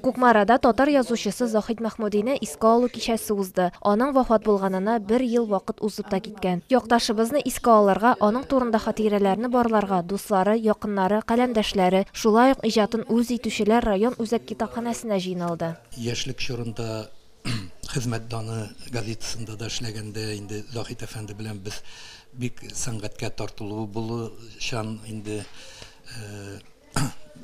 Кукмарада татар язучысы Заһид Мәхмүдине искә алу кичәсе узды. Аның вафат булганына бер ел вакыт узып та киткән. Якташыбызны искә алырга, аның турында хатирәләрне барларга дуслары, якыннары, каләмдәшләре, шулай ук иҗатын үз итүчеләр район үзәк китапханәсенә җыйналды. Яшьлек чорында Хезмәт даны газетасында да эшләгәндә инде Заһит әфәнде белән без бик сәнгатькә тартылуы булучан инде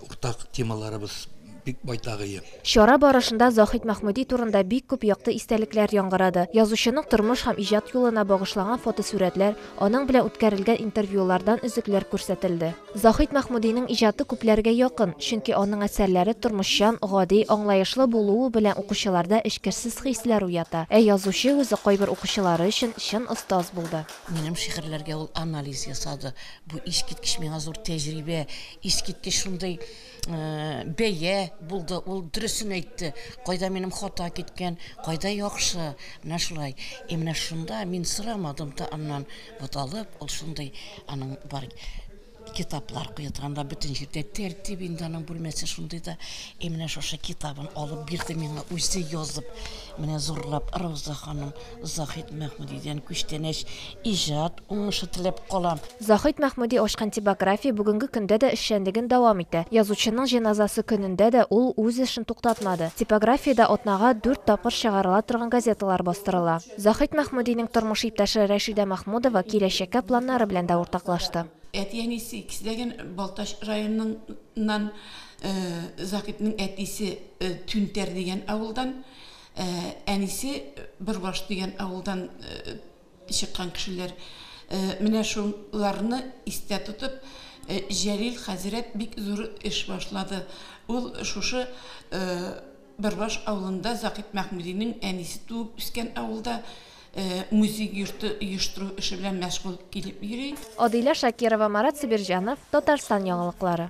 уртак темаларыбыз бик байтагые. Чара барышында Заһит Мәхмүди турында бик күп якты истәлекләр яңгырады. Язучының тормыш һәм иҗат юлына багышлаган фотосурәтләр, аның белән үткәрелгән интервьюлардан өзекләр күрсәтелде. Заһит Мәхмүдинең иҗаты күпләргә якын, чөнки аның әсәрләре тормышчан, гади, аңлаешлы булуы белән укучыларда эчкерсез хисләр уята. Ә язучы үзе кайбер укучылары өчен чын остаз булды. Минем шигырьләргә ул анализ ясады. Бу искиткеч миңа зур тәҗрибә, искиткеч шундый бәя булды, ул дөресен әйтте. Кайда минем хата киткән, кайда яхшы, менә шулай. И менә шунда мин сорамадым да аннан, вот алып, ул шундый аның бар китаплар куеткан да бөтен җирдә тәртип инде аның бүлмәсе шундый да. И менә шушы китабын алып бирде миңа үзе язып, менә зурлап Рауза ханым. Заһит Мәхмүдидән күчтәнәч иҗат уңышы теләп калам. Заһит Мәхмүди ачкан типография бүгенге көндә дә эшчәнлеген дәвам итә. Язучының җеназасы көнендә дә ул үз эшен туктатмады. Типографиядә атнага дүрт тапкыр чыгарыла торган газеталар бастырыла. Заһит Мәхмүдинең тормыш иптәше Рәшидә Мәхмүдова киләчәккә планнары белән дә уртаклашты. Әти-әнисе икесе дә гел Балтач районыннан. Заһитның әтисе Түнтәр дигән авылдан. Әнисе Бөрбаш дигән авылдан чыккан кешеләр. Менә шуларны истә тотып, Җәлил хәзрәт бик зур эш башлады. Ул шушы Бөрбаш авылында, Закит Мәхмүдинең әнисе туып үскән авылда музей йорты оештыру эше белән мәшгуль килеп йөри. Адилә Шакирова, Марат Сибирҗанов, Татарстан яңалыклары.